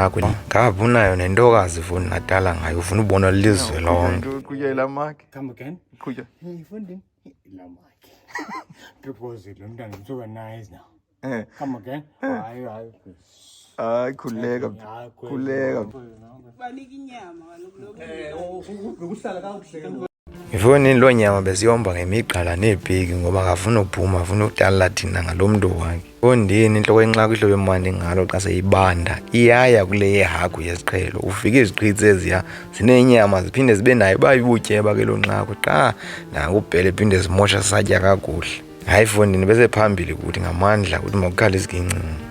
yakho ngavha unayo nentokazi funi natala ngayo ufuna ubona lizwe lonke eh. hayi khululeka khululeka Ifoni loo nyama bezihomba ngemigqala neepiki ngoba akafuni uphuma afuna utalala thina ngalo mntu wakhe. Fondini intloko yenxaku ihlobo emandi ngalo xa seyibanda iyaya kule yehagu yesiqhelo ufike iziqhithi eziya zinenyama ziphinde zibe nayo uba ibutyeba ke loo nxaku qha nakubhele phinde zimosha satya kakuhle hayi fondini bese phambili kuthi ngamandla ukuthi makukhale izigincinci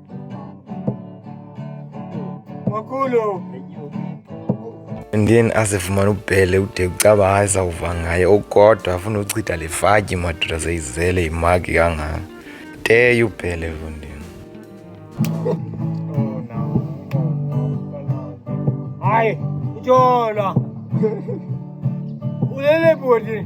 Makhulu. Ndiyeni asifumana ubhele ude kucaba hayi sawuva ngaye okodwa afuna uchitha le fatyi madoda seyizele imaki kangaka teyo ubhele lo ndini hayi utyolwa ulele bhuti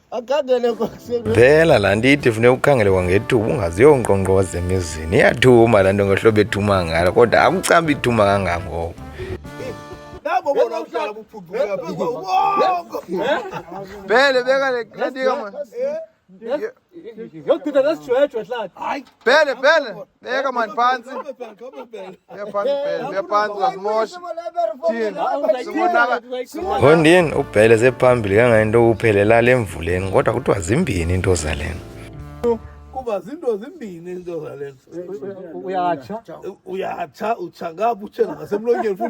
Phela laa nto ithi funeka ukhangele kwangethuba ungaziyo unkqonkqoza emizini iyathuma laa nto ngohlobo ethuma ngalo kodwa akucaba ithuma kangangoko Bele beka le kanti kama. Yokuthutha nesijwejwe hlathi. Hayi. Pele, pele. Weka mani phansi. Weka phansi pele. Weka phansi uzazimosha. Ngondini ubhele sephambili kangayinto uphelela le mvuleni kodwa kuthiwa zimbini into zalena. Kuba zinto zimbini into zalena. Uyatsha. Uyatsha, utsha ngapha utshe ngasemlonyeni futhi.